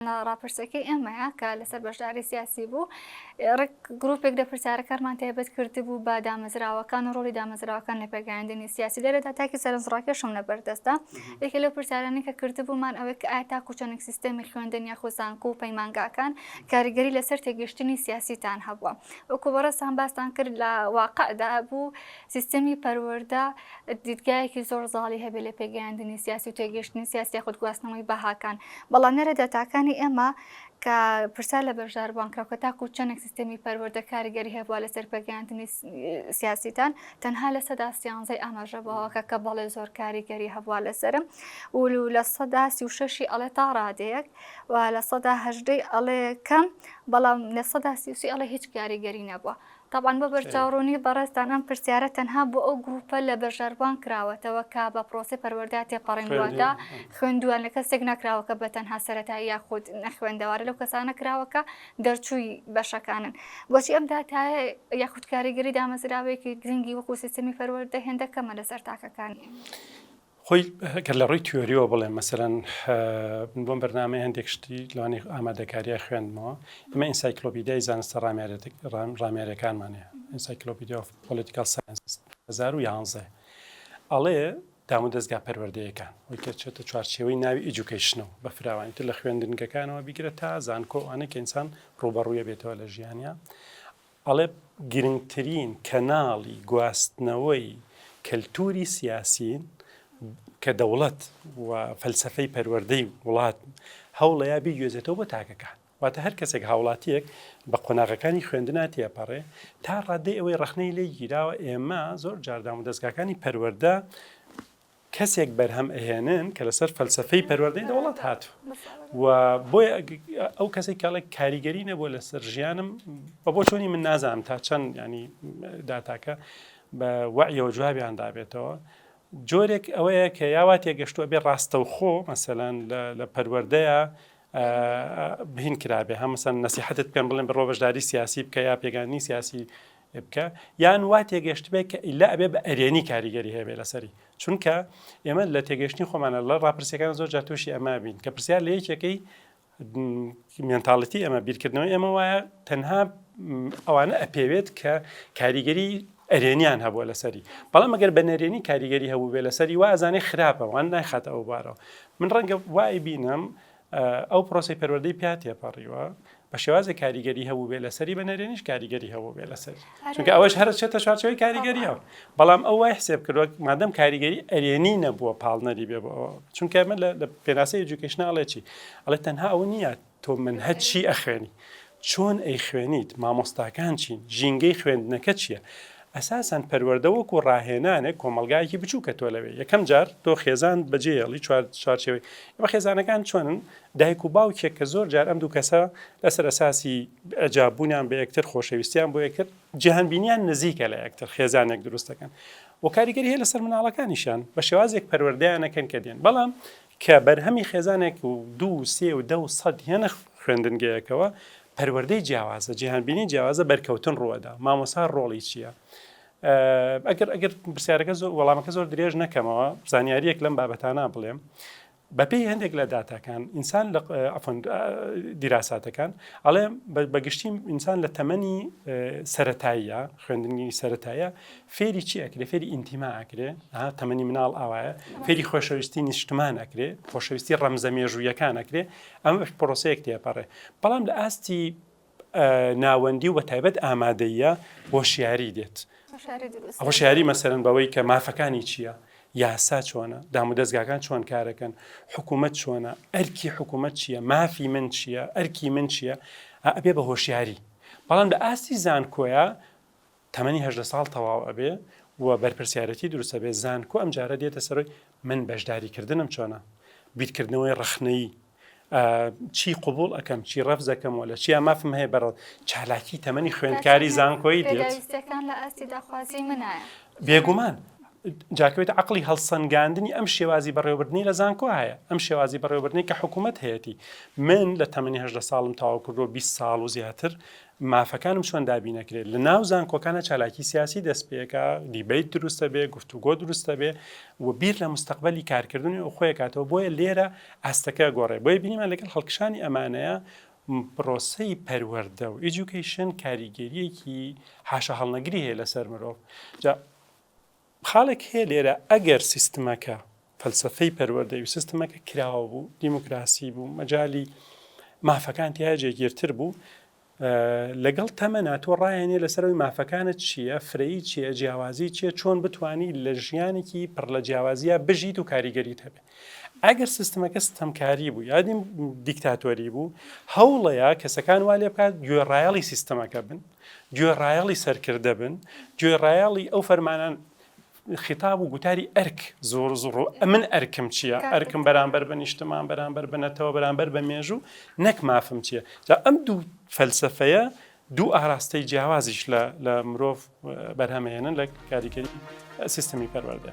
ڕاپرسەکەی ئێمەیە کە لەسەر بەشداری سیاسی بوو ڕێک گرروپێک لە پرسیارەکانمان تایبەت کرد بوو بە دامەزراوەکان و ڕۆلی دامەزراوەکان لە پێگەیاندنی سیاسی لێرەدا تاکی سەرنجڕاکێشم لە بەردەستدا یەکە لەو پرسیارانی کە کردبوومان ئەوەی کە ئایا تاکو چەندێک سیستەمی خوێندن یا خۆزانکو و پەیمانگاکان کاریگەری لەسەر تێگەشتنی سیاسیتان هەبووە وەکو بەڕێستان باستان کرد لە واقعدا بوو سیستەمی پەروەەردە دیدگایەکی زۆر زاڵی هەبێت لە پێگەیاندنی سیاسی و تێگەشتنی سیاسی خود گواستنەوەی بەهاکان بەڵام نەرە داتاکانی ئێمە کە پرسا لە بەشداربان کە کە تاکو چەندێک سیستمی پەروەردە کاریگەری هەبووە لەسەر پێگەیاندنی سیاسیتان تەنها لە سەدا سیانزەی ئاماژە بەوەکە کە بەڵێ زۆر کاریگەری هەبووە لەسرم ولو لە سەدا سی و شەشی ئەڵێ تا ڕادەیەک و لە سەدا هەژدەی ئەڵێ کەم بەڵام لە سەدا سیوسی ئەڵێ هیچ کاریگەری نەبووە تەبعەن بۆ بەرچاوڕوونی بەڕێزتان ئەم پرسیارە تەنها بۆ ئەو گرووپە لە بەشداربووان کراوەتەوە کە بە پرۆسەی پەروەردەیان تێپەڕین واتە خوێندوویان لە کەسێک نەکراوە کە بە تەنها سەرەتایی یاخود نەخوێندەوارە لەو کەسانە کراوە کە دەرچووی بەشەکانن بۆچی ئەم داتایە یاخود کاریگەری دامەزراوەیەکی گرنگی وەکو سیستمی پەروەردە هێندە کەمە لەسەر تاکەکان؟ خۆی گەر لە ڕووی تیۆریەوە بڵێم مەسەرەن من بۆم بەرنامەی هەندێک شتی لەوانی ئامادەکاریە خوێندمەوە ئمە ئینسایکلۆپیدای زانستە ڕامێرێتێک ڕامێرەکانمانەیە ئینسایکلۆپیدی ئۆف پۆلیتیکال ساینس 2011 ئەڵێ دام و دەستگا پەروەردەیەکان وی کە چێتە چوارچێوەی ناوی ئیجوکیشنەوە بە فراوانی تر لە خوێندنگەکانەوە بیگرە تا زانکۆ ئەوانە کە ئینسان ڕوبەڕوویە بێتەوە لە ژیانیا ئەڵێ گرنگترین کەناڵی گواستنەوەی کەلتوری سیاسین کە دەوڵەت و فەلسەفەی پەروەردەی وڵات هەوڵەیە بیگوێزێتەوە بۆ تاکەکان واتە هەر کەسێک هاوڵاتیەک بە قۆناغەکانی خوێندنا تێپەڕێ تا ڕادەی ئەوەی ڕخنەی لێ گیراوە ئێمە زۆر جاردام و دەستگاکانی پەروەەردە کەسێک بەرهەم ئەهێنن کە لەسەر فەلسەفەی پەروەردەی دەوڵەت هاتوو و بۆیە ئەو کەسێک کاڵێک کاریگەری نەبووە لەسەر ژیانم بە بۆ چۆنی من نازانم تا چەند ینی داتاکە بە وەعیەوە جوابیان دابێتەوە جۆرێک ئەوەیە کە یاوا تێگەشتووە بێ ڕاستەوخۆ مەسەلاەن لە پەروەردەیە بهین کرابێ هەمسەن نسیحتت پێم بڵێن بڕۆ بەشداری سیاسی بکە یا پێگانی سیاسی بکە یان وا تێگەشتبێ کە ئیلا ئەبێ بە ئەرێنی کاریگەری هەیەێ لەسەری چونکە ئێمە لە تێگەشتنی خۆمانە لە ڕاپرسیەکان زۆر جا تووشی ئەما بین کە پرسیار لە یەکێکی مێنتاالەتی ئەمە بیرکردنەوە ئێمە وایە تەنها ئەوانە ئەپێوێت کە کاریگەری ئەرێنیان هەبووە لەسەری بەڵام ئەگەر بە نەرێنی کاریگەری هەبوو بێ لەسەری وازانێ خراپە وان ناخاتە ئەو بارەوە من ڕەنگە وای بینم ئەو پرۆسەی پەروەردەی پیا تێپەڕیوە بە شێوازی کاریگەری هەبووبێ لەسەری بە نەرێنیش کاریگەری هەبووبێ لەسەر چونکە ئەوەش هەر چێتە چارچەوەی کاریگەریەوە بەڵام ئەو وای حسێب کردوە مادەم کاریگەری ئەرێنی نەبووە پاڵنەری بێ بەەوە چونکە من لە پێناسی ئەجوکیشنناڵێکی ئەڵێ تەنها ئەوە نییە تۆ من هەچی ئەخوێنی چۆن ئەیخوێنیت؟ مامۆستاکان چین؟ ژینگەی خوێندنەکە چییە؟ ئەساسەن پەروەردە وەکو ڕاهێنانێک کۆمەڵگایەکی بچووکە تۆ لەوێ یەکەم جار تۆ خێزانت بەجێ هێڵی چوار چوارچێوەی ئێمە خێزانەکان چۆنن دایک و باوکێک کە زۆر جار ئەم دوو کەسە لەسەر ئەساسی ئەجاب بوونیان بە یەکتر خۆشەویستیان بۆ یەکتر جیهان بینیان نزیکە لە یەکتر خێزانێک دروستەکەن و کاریگەری هەیە لەسەر مناڵەکانیشان بە شێوازێک پەروەردەیانەکەن کە دێن بەڵام کە بەرهەمی خێزانێک و دوو و سێ و دە و سەد یانە خوێندنگەیەکەوە، پەروەردەی جیاوازە، جیهانبینی جیاوازە، بەرکەوتن ڕووەدا، مامۆسا ڕۆڵی چییە؟ ئەگەر ئەگەر پرسیارەکە زۆر وەڵامەکە زۆر درێژ نەکەمەوە زانیاریەک لەم بابەتانە بڵێم. بەپێی هەندێک لە داتاکان ئینسان لە دیراساتەکان ئەڵێ بەگشتی ئینسان لە تەمەنی سەتاییە خوێندنی سەتایە فێری چی ئەکرێ فێری ئینتیما ئەکرێ ها تەمەنی مناڵ ئاوایە فێری خۆشەویستی نیشتمان ئەکرێ خۆشەویستی ڕەمزە مێژوویەکان ئەکرێ ئەمە بەش پرۆسەیەک تێپەڕێ بەڵام لە ئاستی ناوەندی و بە تایبەت ئامادەیە بۆ شیاری دێت ئەوە شاری مەسەرن بەوەی کە مافەکانی چییە؟ یاسا چۆنە دامودەستگاکان چۆن کارەکەن حکوومەت چۆنە ئەرکی حکوومەت چییە مافی من چییە ئەرکی من چییە ئەبێ بە هۆشیاری بەڵام لە ئاستی زانکۆیە تەمەنی هەژدە ساڵ تەواو ئەبێ و بەرپرسیارەتی دروست ئەبێ، زانکۆ ئەمجارە دێتە سەرۆی من بەشداری کردنم چۆنە؟ بیرکردنەوەی ڕەخنەیی ئە چی قبوڵ ئەکەم چی ڕەفز ئەکەم و لە چیا مافم هەیە بەڕ چالاکی تەمەنی خوێندکاری زانکۆی دێت پێداویستیەکان لە ئاستی داخوازی منایە بێگومان جاکەوێت عەقڵی هەڵسەنگاندنی ئەم شێوازی بەڕێوەبردنی لە زانکۆ هەیە ئەم شێوازی بەڕێوەبردنی کە حکوومەت هەیەتی من لە تەمەنی هەژدە ساڵم تەواو کردووە 20 ساڵ و زیاتر مافەکانم چۆن دابینە کرێت لە ناو زانکۆکانە چالاکی سیاسی دەست پێکا دیبیت دروستە بێ گفتوگۆ دروستە بێ و بیر لە مستقبلی کارکردنی و خۆیکاتەوە بۆیە لێرە ئاستەکە گۆڕێ بۆیە بینیمان لەگەڵ هەڵکشانی ئەمانەیە پرۆسی پەروەەردە و ئیجوکیشن کاریگەریەکی حاشە هەڵنەگری هەیە لەسەر مرۆڤ جا خاڵێک هەیە لێرە ئەگەر سیستمەکە فەلسەفەی پەروەردەی و سیستمەکە کراوە بوو دیموکراسی بوو مەجای مافەکان تیا جێگیرتر بوو لەگەڵ تەمەنا تۆ ڕایەنێ لەسەرەوەی مافەکانت چییە فرەیی چیە جیاوازی چیە چۆن بتانی لە ژیانێکی پڕ لە جیاوازیە بژیت و کاریگەریت هەبێ ئەگەر سیستمەکە ستەمکاری بوو یادیم دیکتاتۆری بوو هەوڵەیە کەسەکان وا لێ بکات گوێڕایەڵی سیستمەکە بن گوێڕایەڵی سەرکردە بن، گوێڕایەڵی ئەو فەرمانان خیتاب و گوتاری ئەرک زۆر زۆڕ و ئەمن ئەرکم چییە ئەرکم بەرامبەر بە نیشتمان بەرامبەر بنەتەوە بەرامبەر بە مێژوو نەک مافم چییە جا ئەم دوو فەلسفەیە دوو ئاراستەی جیاوازیش لە لە مرۆڤ بەرهەمهێنن لە کاریگەری سیستمی پەروەردە.